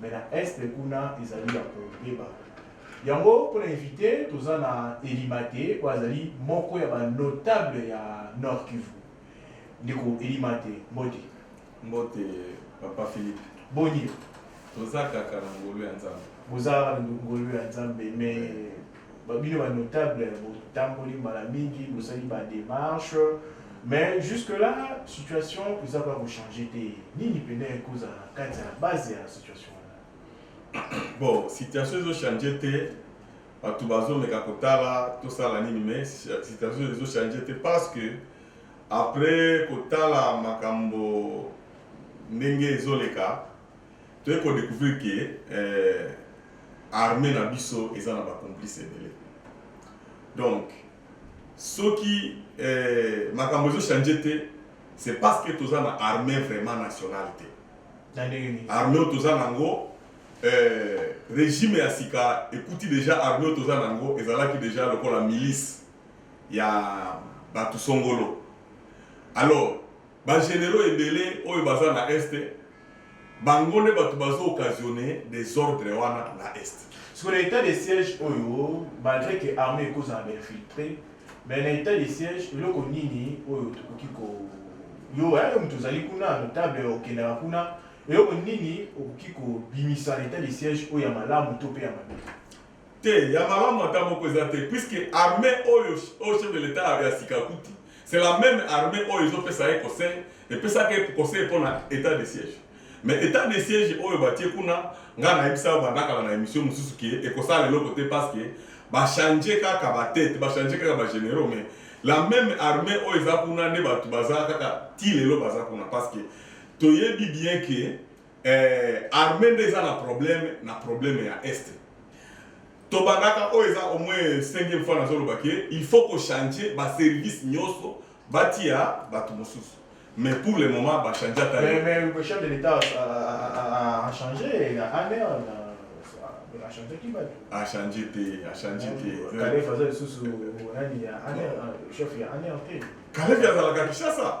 mais na est kuna ezali ya kobeba yango mpo na invité toza na elimate oyo azali moko ya banotable ya nord kivu ndeko elimate mbote mbote papa philippe boni toza kaka na ngolu ya nzambe boza ngolu ya nzambe mais Ba bino ba notable botamboli mbala mingi bosali ba demarche mais jusque là situation eza kaka kochange te nini mpena ekozala na kati ya base ya situation wana bon situation ezochange te bato bazomeka kotala tosala nini mais situation ezochange te parce que après kotala makambo ndenge ezoleka Toye ko decouvrir que eh, armee na biso eza na ba complice ebele. Donc soki eh, makambo ezo changer te, c'est parce que toza na armee vraiment nationale te. Armée oyo toza nango eh, regime ya sika ekuti deja armée oyo toza nango ezalaki deja lokola milice ya bato songolo alors Ba generaux ebele oyo baza na Est bango nde batu bazo occasionne desordre wana na Est. Sikoyo na etat de siège oyo malgre que armee ekozala ba infiltres mais na etat de siège eloko nini oyo tokoki ko yo hein yo mutu ozali kuna notable okendaka kuna eloko nini okoki kobimisa na etat de siège oyo ya malamu to pe ya mabe? Te, ya malamu ata moko eza te puisque armee oyo oyo chef de l'etat ya sika akuti c'est la même armee oyo ezopesa ye conseil epesaka ye conseil mpo na etat de siège mais etat de siège oyo batie kuna ngai nayebisa yo banda kala na émission mosusu ke ekosala eloko te parce que bachange kaka batete bachange kaka bagénéraux mais la même armée oyo eza kuna nde bato baza kaka ti lelo baza kuna parce que toyebi bien ke Eh, armée nde eza na problème na problème ya est tobandaka oyo eza au moins cinquième fois nazoloba ke il faut kochange baservice nyonso batia bato mosusu mais pour le moment bachange ata Mais, mais le chef de l'État a, a, a, a changé, la ANR, a changé qui va achange te achange te Calef aza lisusu nani ya ANR, chef ya ANR te. kalevi azalaka kinshasa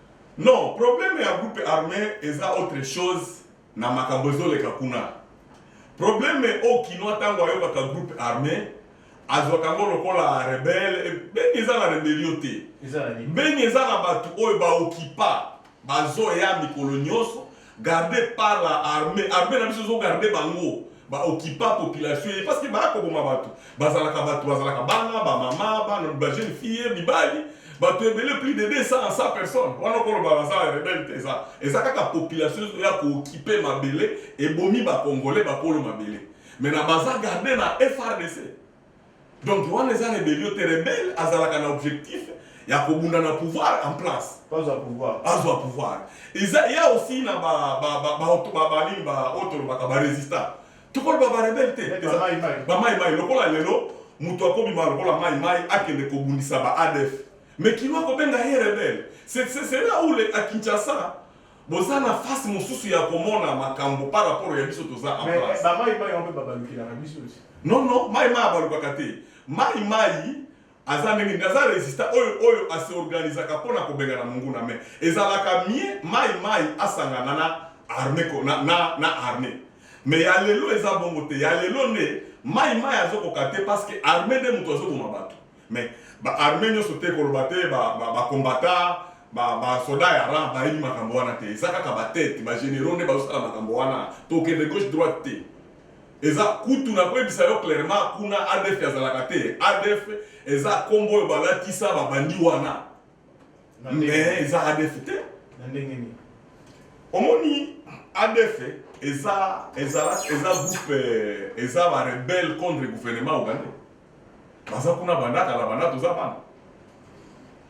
Non, problème ya groupe armé eza autre chose na makambo ezoleka kuna. Problème oyo kinois tango ayokaka groupe armé azwaka yango lokola rebelle. Eh, Beni eza na rebellion te. Beni eza na bato oyo baokipa bazoya mikolo nyonso garde par la armée armée na biso ezo garde bango ba occupa population ye parce que baya koboma bato bazalaka bato bazalaka bana bamama bana bajeune fille mibali bato ebele plus de 200 à 100 personnes wana okoloba baza ya rebele te eza eza kaka population ya kookipe mabele ebomi bacongolais bakolo mabele mais na baza garde na frdc Donc wana eza rebellion te, rebelle azalaka na objectif ya kobunda na pouvoir en place. Bazwa pouvoir. Bazwa pouvoir. Eza ya aussi na ba ba ba ba oto ba ba nini ba oto lobaka ba resistants. Tokoloba ba rebelle te. Eza mai mai. Ba mai mai lokola lelo moto akobima lokola mai mai akende kobundisa ba ADF. Mais kino akobenga ye rebelle. C'est c'est là où le à Kinshasa boza na face mosusu ya komona makambo par rapport ya biso toza en Mais place ba mai mai yango mpe babalukelaka biso aussi. non non mai mai abalukaka te mai mai aza ndenge nini aza resistant oyo oyo aseorganisaka mpo na kobengana monguna mais ezalaka mie mai mai asangana na arme ko- na, na, na arme mais ya lelo eza bongo te ya lelo nde mai mai azokoka te parce que arme nde moto azoboma bato Mais ba armee nyoso te koloba te ba ba, ba combatta ba ba soda ya rang bayebi makambo wana te eza kaka ba tete ba generaux nde bazosala makambo wana tokende gauche droite te eza kutu na koyebisa yo clairement kuna adf azalaka te adf eza kombo oyo balatisa babandi wana mais eza adf te na ndenge nini omoni adf eza eza eza groupe eza ba rebelle contre gouvernement ougandais baza kuna banda kala banda toza bana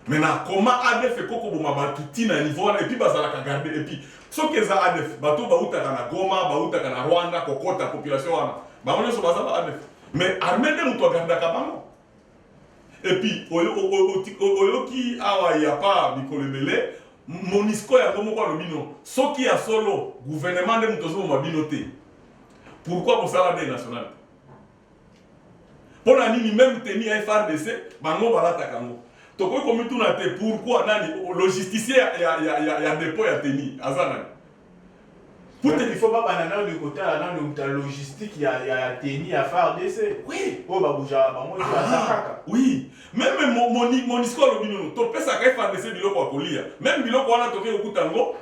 mais na koma adf ekoki koboma bato ti na niveau wana epuis bazalaka garde epuis soki eza adf bato bautaka na goma bautaka na rwanda kokota population wana bango nyonso baza ba adf mais arme nde moto agardaka bango epuis oyoki awa ya pa mikolo ebele monisco yango moko alobi no soki ya solo gouvernement nde moto ozoboma bino te pourquoi bosala de national Mpo na nini meme tenue ya FRDC bango balataka yango? Tokoki komituna te pourquoi nani logisticien ya, ya, ya, ya, ya depot ya tenue aza nani? Pute il faut babanda nano de kotala nano muta logistique ya ya tenue ya FARDC. Oui. Oyo babujaka bango te baza ah, kaka. Oui. Meme Monisco alobi nono topesaka FARDC biloko ya kolia. Meme biloko wana toke kokuta yango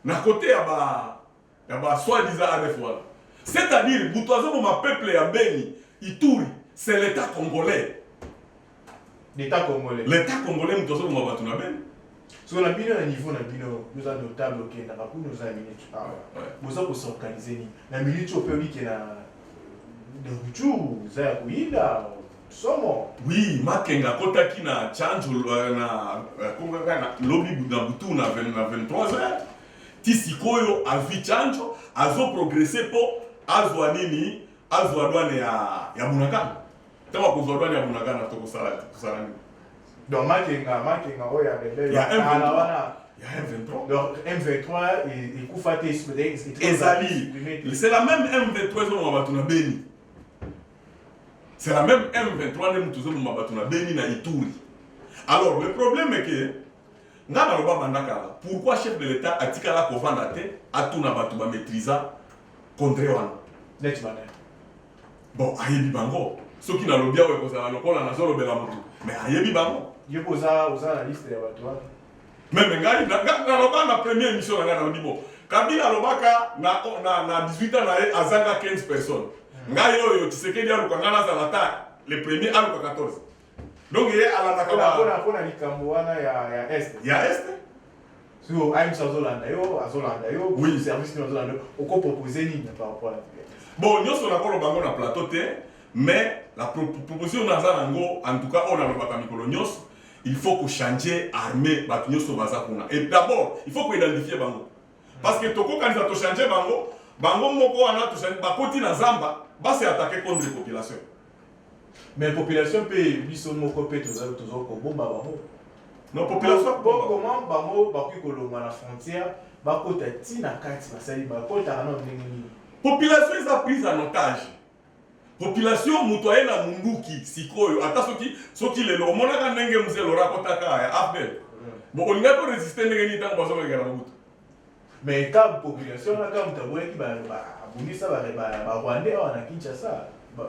na kote ya ba ya ba soit disant adf wana c'est à dire mutu azoboma peuple ya beni ituri c'est l'etat congolais l'etat congolais l'etat congolais mutu azoboma bato na beni so na bino na niveau na bino oza notable okendaka kuna oza minute awa boza kosorganize nini na minute oyo mpe obike na de retour oza ya koyinda somo oui makenga akotaki na change na akongaka na lobi na butu na 23 heures ti sikoyo azwi chanjo azo progrese mpo azwa nini azwa dwane ya, ya bunagana ntango akozwa dwane ya bunagana tokosala tosala nini donc makenga makenga oyo ya rebele ya m23 wana ya m23 donc m23 ekufa te ezali c'est la même m23 ezolonga bato na beni c'est la même m23 nde moto ezolonga bato na beni na ituri alors le problème est que nga naloba banda kala pourquoi chef de l'etat atikala kovanda te atuna bato ba maîtrisa contre wana neti bana bon ayebi bango soki nalobi awa ekozala lokola nazolobela motu mais ayebi bango yoko oza oza na liste ya bato wana meme ngai naloba na premier émission na ngai nalobi bo kabila alobaka na, na, na 18 ans na ye azanga 15 personnes hmm. ngai oyo tisekedi aluka ngai nazala ta le premier aluka 14 donc ye alandaka ba pona pona likambo wana ya ya est ya est so ayemusi azolanda yo azolanda yo oui service nini azolanda yo okopropose nini par rapport ya bon nyonso nakoloba yango na plateau te mais la proposition naza nango en tout cas oyo nalobaka mikolo nyonso il faut kochanger armée bato nyonso baza kuna et d'abord il faut koidentifie bango parce que tokokanisa tochanger bango bango moko wana bakoti na zamba basi atake contre population mais population pe biso moko pe toza tozo ko bomba bango non population po comment bango bakoki kolongwa na frontière bakota ti na kati basali bakotaka na ndenge nini population eza prise en otage population moto aye na munduki sikoyo ata soki soki lelo omonaka ndenge mzee lora akotaka ya afdel mm. bo olingaki oresiste ndenge nini ntango bazongakeka na mobutu Mais ka population na ka mutu aboyaki ba abundisa ba ba ba Rwandais awa na Kinshasa. Ba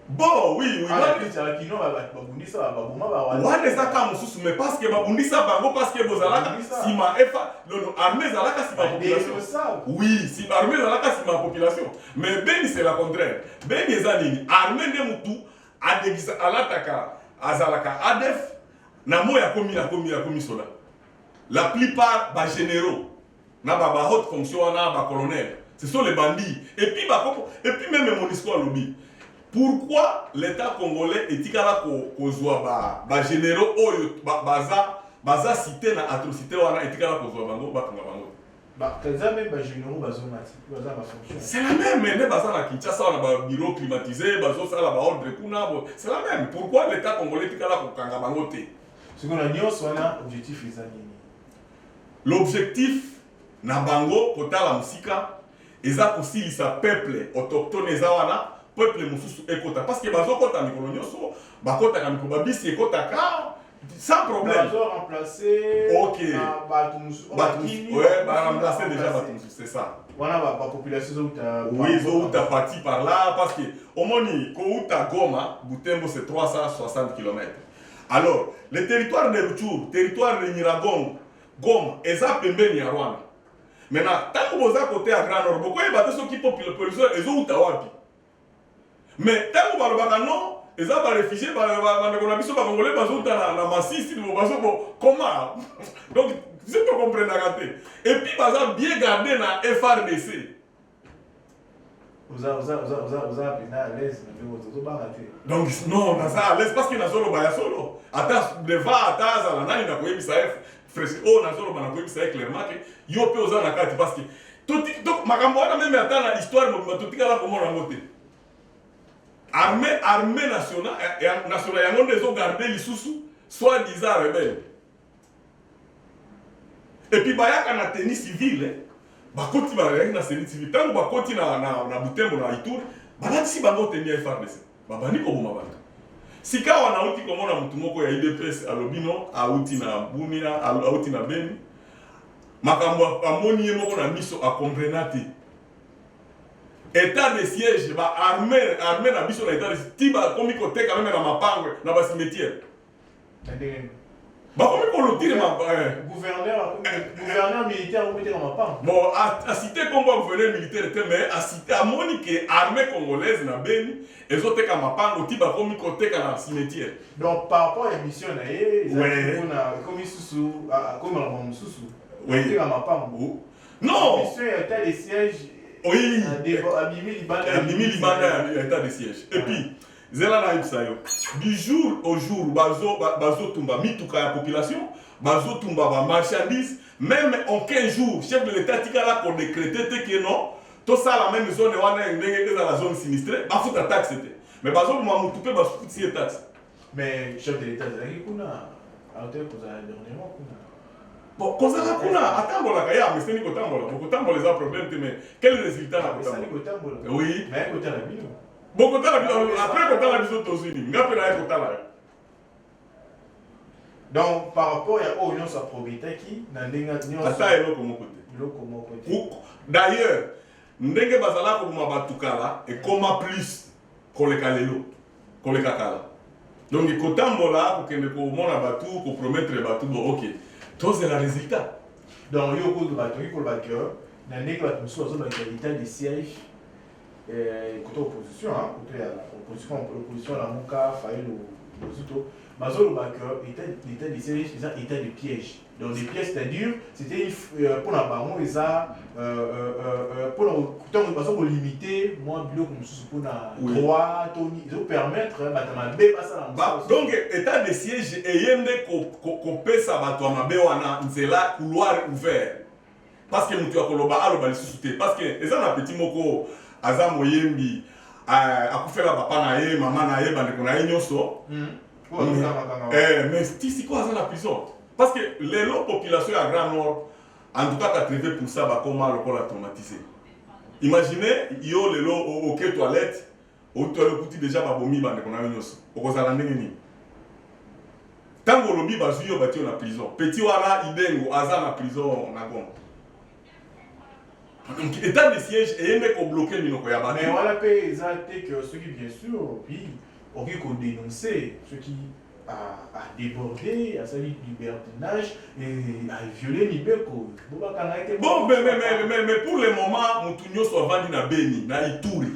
Bon, oui, oui. Ah, oui. Tala kino ba ba bundisa ba baboma ba Rwandais. Rwandais eza ka mususu mais parce que ba bundisa bango parce que bozalaka sima efa lolo armée ezalaka sima population. Oui, si armée ezalaka sima population. Mais Beni c'est la contraire. Beni eza nini? Armée nde mutu adegisa alataka azalaka ADF na moya komi na komi ya komi soda. La plupart ba generaux na ba ba haute fonction wana ba colonel ce sont les bandits et puis ba koko et puis même Monisco alobi pourquoi l'État congolais etikala kozwa ba, ba généraux oyo ba, baza baza cité na atrocité wana etikala kozwa bango batonga bango baza meme bagénéraux bazonga ti baza bafonction c'est la même nde baza na kinshasa wana babureau climatisé bazosala baordre kuna c'est la même pourquoi l'état congolais etikala kokanga bango te Siko na nyonso wana objectif eza nini? L'objectif na bango kotala mosika eza kosilisa peuple autochtone eza wana peuple mosusu ekota parce que bazokota mikolo nyonso bakotaka mikolo babisi ekotaka sans problème bazo remplacer ok bato mosusu bato mosusu ouais ba remplacer déjà bato mosusu c'est ça wana ba, ba population zouta oui zouta parti par là parce que omoni kouta Goma Butembo c'est 360 km Alors, le territoire de Ruchuru, territoire de Nyiragongo, Goma, eza pembeni ya Rwanda. Maintenant, tango boza kote ya Grand Nord, bokoyeba te soki population ezouta wapi. Mais tango balobaka non, eza ba réfugiés bandeko na biso bakongole bazouta na, na Masisi, bazo bo koma. Donc, biso tokomprenaka te. Et puis baza bien garde na FRDC. oza oza oza oza oza pena à l'aise na ndenge ozo ozobanga te donc non naza à l'aise parce que nazoloba ya solo ata deva ata azala nani nakoyebisa ye fresh oyo nazoloba nakoyebisa ye clairement ke yo mpe oza na kati parce que makambo wana meme ata na histoire mobimba totikala komona yango te arme arme nationale eh, eh, nationale yango nde ezogarde lisusu soit disant rebelle epi bayaka na tenue civile eh. bakoti bayaki na tenue civile ntango bakoti na, na, na butembo na ituri balatisi bango tenue ya frdc babandi koboma bato sikawa nauti komona motu moko ya idps alobi no auti na bumia auti na beni makambo amoni ye moko na miso akomprena te etat de siège ba arme arme na biso na etat de ti bakomi koteka meme na mapango na basimetiere bakomi kolotire gouverneur militaire okobeteka mapanga bon asite nkombo ya gouverneur militaire te mais asite amoni ke armée congolaise na beni ezoteka mapango ti bakomi koteka na cimetière donc par rapport ya mission na ye ezalipona ekomi susu akomi makambo mosusu koteka mapango non mission ya etat de siège abimi libanda ya etat de siège et puis zela nayebisa yo du jour au jour bazotumba bazo mituka ya population bazotumba ba marchandise meme en 15 jours chef de l'état tikala kodecrete te ke non tosala meme zone wana ndenge ezala zone sinistre bafuta taxe te mais bazoboma motu mpe basukuti ye taxe mais chef de l'état ezalaki kuna autaki kozala dernièrement kuna bon kozala kuna atambolaka ye ameseni kotambola bokotambola eza problème te mais quel résultat na kotambola oui bokotala biso après kotala biso tozwi nini nga mpe naye kotala yo donc par rapport ya oyo nyonso aprobetaki na ndenge nyonso ata eloko moko te eloko moko te d'ailleurs ndenge bazala koboma bato kala ekoma plus koleka lelo koleka kala donc kotambola kokende komona bato kopromettre bato bo ok tozela résultat donc yo okoki koloba ke na ndenge bato mosusu bazobakisa lita de siège eh, kuta opposition hein, kuta ya opposition opposition na muka fayulu bozito bazoloba que état état de siège eza état de piège donc les pièces c'est dur c'était euh, mpona bango eza mpona euh, euh, ntango baza kolimite mwa biloko mosusu mpona droit to ezopermettre bato ya mabe basala donc état de siège eye nde kopesa bato ya mabe wana nzela couloir ouvert parce que mutu akoloba aloba lisusu te parce que eza na petit moko aza moyembi euh, akufela papa na ye mama na ye bandeko na ye nyonso hmm. eh, mais ti sikoyo aza na prison parce que lelo population ya grand nord en tout cas 80 pourcent bakoma lokola traumatise imagine yo lelo oke toilette otoyo okuti deja babomi bandeko na yo nyonso okozala ndenge nini ntango olobi bazwi yo bati yo na prison peti wana idengo aza na prison na goma donc état de siège eye nde kobloke minoko ya bato mais wana mpe eza te ke soki bien sûr oui okoki kodenonce soki adébordé, asali libertinage, et a violé mibeko. Bon, mais, mais, mais, mais, mais pour le moment, mutu nyoso avandi na Beni, na Ituri.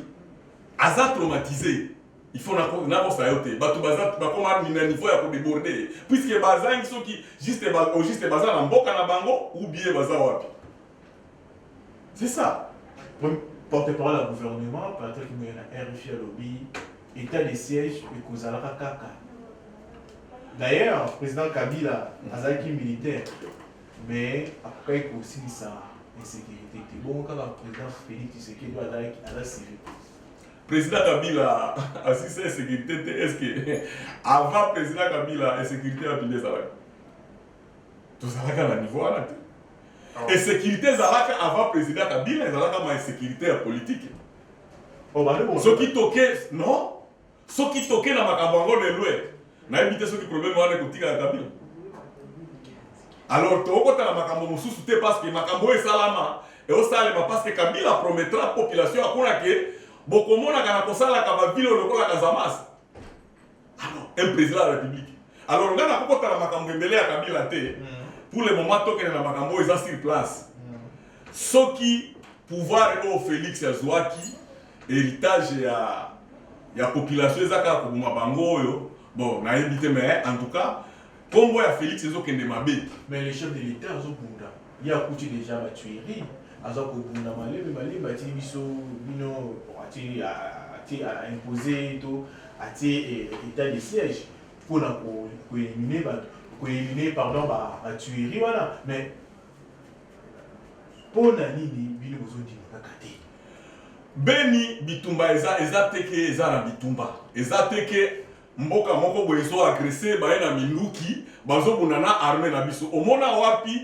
aza traumatise il faut nakosa yo te bato bakoma na niveau ya kodeborde ye puiske bazangi soki juste au juste baza na mboka na bango ou bien baza wapi c'est ça porte-parole ya gouvernement patrick moye na rfi alobi état de siège ekozalaka kaka d'ailleurs président kabila azalaki militaire mais akokaki kosilisa insécurité te bongo kaka président félix tshisekedi azalaki aza civil président kabila asisa insécurité te est ce que avant président kabila insécurité ya bino ezalaki tozalaka na niveau wana te ah. insécurité ezalaka avant président kabila ezalaka ma insécurité ya politike oh, soki toke non Soki toke na makambo yango lelo eh, nayebi te soki problème wana ekotikala kabila alors tokokota na makambo mosusu te parce que makambo oyo esalama eosalema parce que kabila promettra population akuna ke bokomonaka na kosalaka bavile oyo lokola kazamas alors ah un président ya république alors ngai nakokota na makambo ebele ya kabila te mm. pour le moment tokende na makambo oyo eza sur place mm. soki pouvoir oyo félix azwaki Heritage ya ya population eza kaka koboma bango oyo bon nayebi te mais en tout cas kombo ya Felix ezokende mabe. Mais le chef de l'etat azobunda ye akuti dejà ba tuerie aza kobunda malembe malembe atili biso bino atili atie a impose to atie eh, etat de siège mpona koelimine bato koelimine pardon ba tuerie wana mais Mpo na nini bino bozondima kaka te? Beni bitumba eza eza te ke eza na bitumba eza te ke mboka moko boye ezo agrese baye na minduki bazobunda na arme na biso omona wapi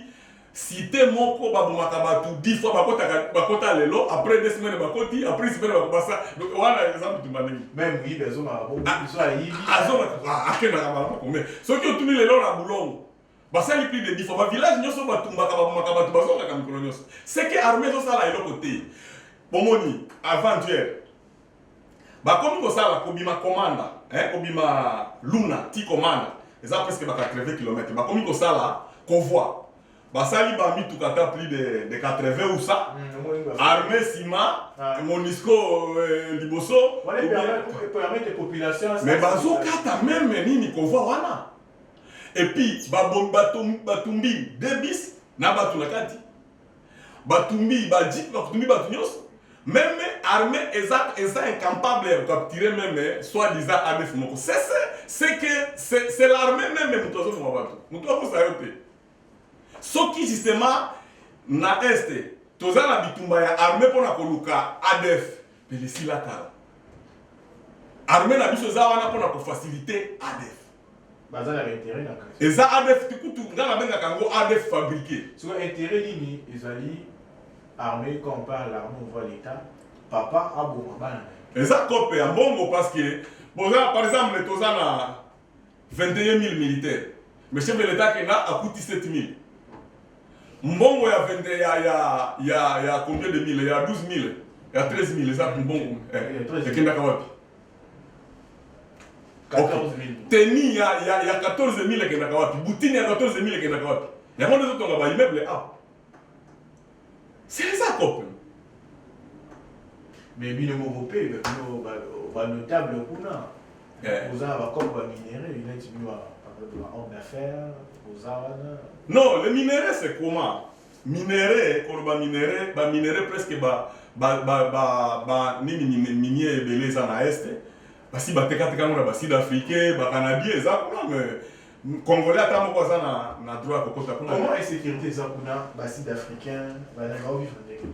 site moko babomaka bato dix fois bakotaka bakota lelo après deux semaines bakoti après semaine bakobasa wana eza bitumba ndenge Même moyibi azongaka bongo, biso ayibi. azonga akendaka bala bakombe soki otuni lelo na bulongo basali plus de 10 fois ba village nyonso batumbaka babomaka bato bazongaka mikolo nyonso seke armée ezosala eloko te bomoni aventure bakomi kosala kobima komanda eh, kobima luna ti komanda eza presque ba 80 km bakomi kosala kovoi basali bamituka ata plus de, de 80 usa mm, armée sima ah. monisco euh, liboso mais bazokata meme nini kovoi wana et puis babombi batumbi deux bis na bato na kati batumbi bajipe batumbi bato nyonso meme armée eza eza incampable ya capturer meme soit disant adf moko sese c'est que c'est l'armée meme moto azoboma bato moto akosa yo te Soki justement na est toza na bitumba ya armée mpo na koluka ADF, pele esila kala. Armée na biso eza wana mpo na kofacilite ADF. baza na intérêt na kasi Eza ADF ti kutu nga nabengaka yango ADF fabriqué. siko intérêt nini ezali armée quand on parle l'armée on voit l'état papa aboma bana na ye Eza cope ya mbongo parce que boza par exemple toza na 21000 militaires mais chef de l'etat akenda akuti 7000 mbongo ya 20 ya ya ya ya combien de mille ya 12000 ya 13000 eza mbongo eh, eh, ekendaka wapi teni ya ya ya 14000 ekendaka wapi butini ya 14000 ekendaka wapi yango nde ezotonga ba immeuble a ah. C'est ça copain. Mais bino moko pe bino ba ba notable kuna. Eh. Vous avez comme ba minerais, il est venu à un homme d'affaires, vous avez Non, le minerais c'est comment Minerais, koloba minerais, ba minerais presque ba ba ba ba, ba nini minier ebele eza na est. Basi batekateka ngo na ba sud africain, ba canadien eza kuna mais Congolais ata moko aza na na droit ya kokota kuna. Comment insécurité eza kuna ba sud africain balingaka ovivre ndenge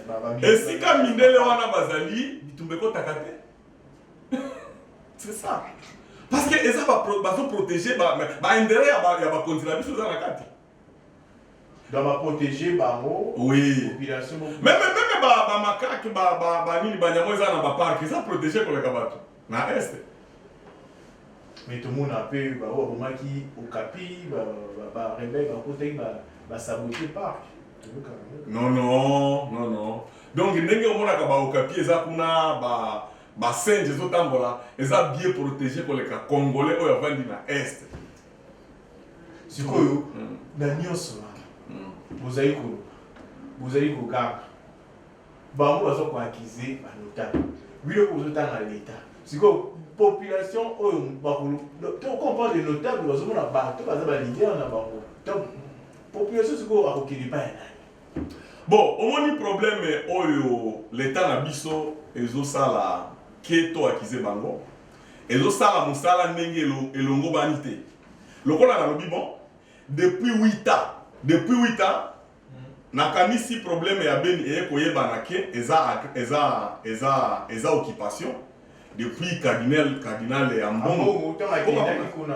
Ba- ba- ba- Esika mindele wana bazali bitumba ekotaka te. C'est ça. Parce que eza ba bazo protéger ba ba intérêt ya ba ya bakonzi na biso eza na kati. Donc ba protéger bango. Oui. Population. Même même ba ba makaki ba ba ba nini ba nyamo eza na ba parc eza protéger koleka bato na est. Mais tout le monde a peu ba oyo bomaki okapi ba ba ba rebelle ba kotaki ba ba saboter parc. Non non non non. Donc ndenge omonaka ba okapi eza kuna ba ba singe ezotambola eza bien protéger koleka congolais oyo avandi na est. sikoyo mm. na nyonso wana mm. bozali ko bozali koganga bango baza koakize banotable bino ozotanga leta sikoyo population oyo bakolo to comprendre notable bazomona bato baza balider na bango donc population sikoyo akokende epai ya nani bon omoni probleme oyo leta na biso ezosala ke to akize bango Ezo sala musala ndenge elongobani te. Lokola nalobi bon depuis huit ans, depuis huit ans nakanisi probleme ya Beni eye koyebana que eza eza eza eza occupation depuis cardinal cardinal Ambongo. Ambongo tango akendaki kuna.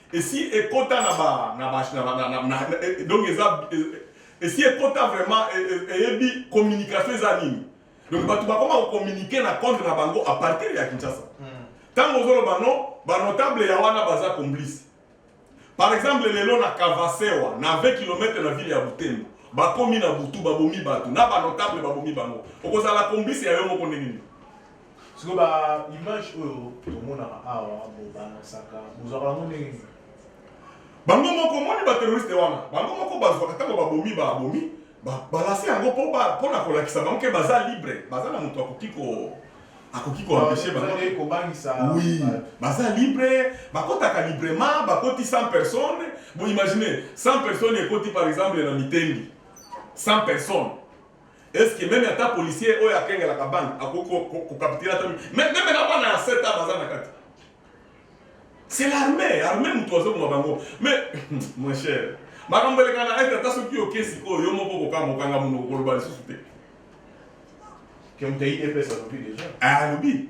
esi ekota na ba na ba na ba na na donc eza esi ekota vraiment eyebi communication eza nini donc bato bakoma kocommunike na compte na bango à partir ya kinshasa ntango hmm. ozoloba no banotable ya wana baza complice par exemple lelo na kavasewa na 20 km na ville ya butembo bakomi na butu babomi bato na banotable babomi bango okozala complice ya yo moko ndenge nini sikoyo ba image oyo tomonaka awa bobalançaka bozwaka yango ndenge nini bango moko omoni bateroriste wana bango moko bazwaka ntango babomi babomi balanse yango mpo na kolakisa bango ke baza libre baza na moto akoki ko akoki koempeshe bangowi baza libre bakotaka librement bakoti 100 personnes boimagine 100 personnes ekoti par exemple na mitendi 100 personnes Est ce que meme ata policier oyo akengelaka banque akoki kokapitila ata meme na bana ya 7 ans baza na kati c'est l'armée armée moto azoboma bango mais mon cher makambo eleka na ete ata soki oke sikoyo yo moko kokanga mokanga monoko koloba lisusu te alobi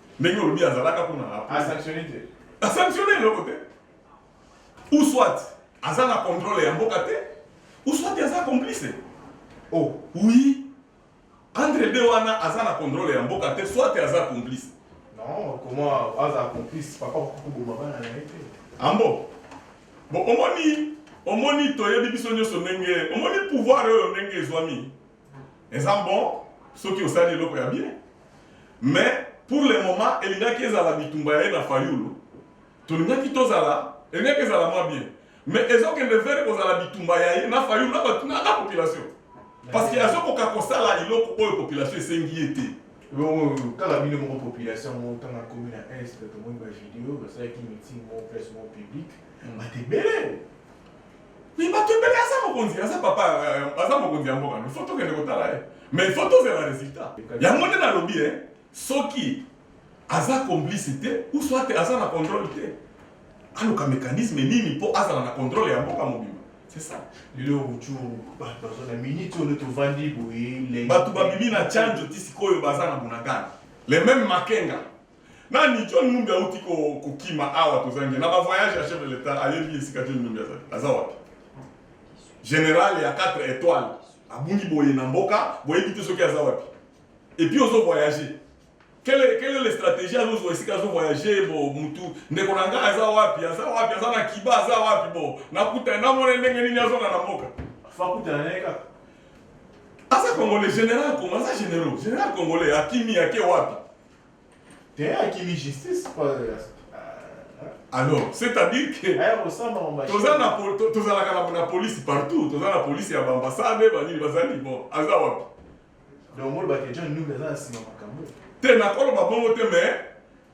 ndenge olobi azalaka kuna asanctionne te asanctionne eloko te ou soit aza na contrôle ya mboka te ou soit aza complice oh oui entre deux wana aza na contrôle ya mboka te soit aza complice non comment aza complice papa kokoboma bana na ye te ambo bon omoni omoni toyebi biso nyonso ndenge omoni pouvoir oyo ndenge ezwami eza bon soki osali eloko ya bien mais pour le moment elingaki ezala bitumba ya ye na fayulu tolingaki tozala elingaki ezala mwa bien mais ezokende vere kozala bitumba ya ye na fayulu na bato na population parce que azokoka kosala eloko oyo population esengi ye te kaka bino moko population yango ntango akomi na est tomoni bavideo basalaki meeting moko place moko publique hmm. bato ebele Mais bato ebele aza mokonzi aza papa aza mokonzi ya mboka no faut tokende kotala ye mais faut tozela résultat yango nde nalobi e soki aza complice te ou soit aza na contrôle te aluka mécanisme nini mpo azala na contrôle ya mboka mobima c'est ça lelo ruchuru bato baza na minute oyo tovandi boye bato babimi na chanjo ti sikoyo baza na bunagana le même makenga Nani John Numbi auti ko kokima awa tozangi na ba voyage ya chef de l'etat ayebi esika John Numbi azali aza wapi? General ya 4 étoiles abungi boye na mboka boyebi te soki aza wapi? Et puis ozo voyager quelle est, quelle est la stratégie azozwa esika azo voyager bo mutu ndeko na ngai aza wapi aza wapi aza na kiba aza wapi bo nakuta namona ndenge nini azonga na mboka fakutana naye kaka aza congolais général kongo aza généraux général congolais akimi ake wapi alors c'est à dire que eh, tozalaka na police partout toza na police ya baambassade banini bazali bon aza wapi te nakoloba bongo te mais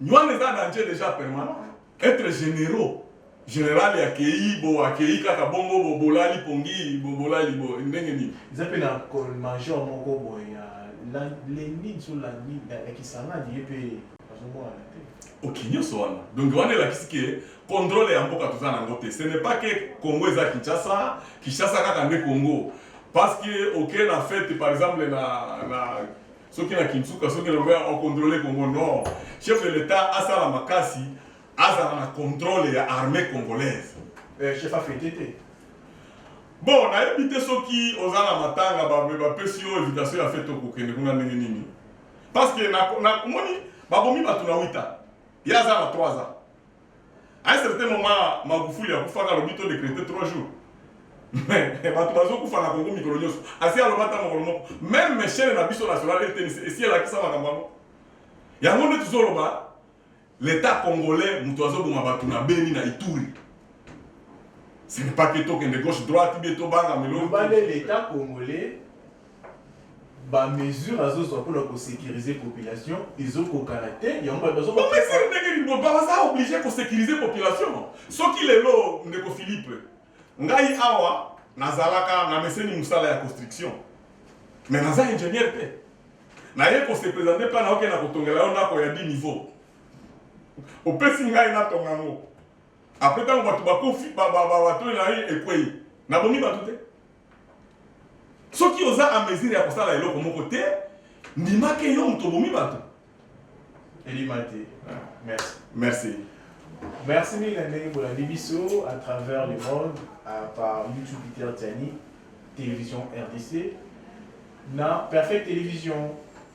nywana eza danger déjà permanent Etre generaux general ya keyi bo akeyi kaka bongo bo bolali pongi bo bolali bo ndenge nini. Eza pe na col major moko boye ya lendin so landin ya kisangani ye pe azo monana te. Ok nionso wana donc wana elakisi ke controle ya mboka toza na ngo te ce n'est pas ke congo eza kinshasa kinshasa kaka nde congo parce que oke na fete par exemple na na soki na kinsuka soki na boya okontrole congo nord chef de l'etat asala makasi azala na controle ya armée congolaise eh, chef afete te bon nayebi te soki oza na matanga bapesi yo invitation ya fete okokende kuna ndenge nini parce que namoni babomi bato na wita ye aza na 3 ans À un certain moment, Magufuli akufaka alobi to décréter 3 jours. Mais bato bazokufa na Congo mikolo nyonso. Asi aloba ata mokolo moko. Même chaîne na biso national RTNC esi elakisa makambo yango. Yango nde tozoloba l'État congolais moto azoboma bato na Beni na Ituri. Ce n'est pas que tokende gauche droite bien tobanga melo. L'État congolais ba mesures azozwa mpona kosécuriser population ezokokana te yango bato bazo omesiri ndenge nini baza oblige kosécuriser population soki lelo ndeko philippe ngai awa nazalaka na meseni mosala ya construction mais naza ingénieur te naye kose présente mpa naoke na kotongela yo ndako ya 10 niveau opesi ngai natonga yango apres ntango bato bakufi bato na ye ekwei nabomi bato te Soki oza en mesure ya kosala eloko moko te, ndima ke yo moto obomi bato. Elima te. Merci. Merci. Merci mingi na ndenge bolandi biso à travers le monde à par YouTube Peter Tiani, Télévision RDC, na Perfect Télévision.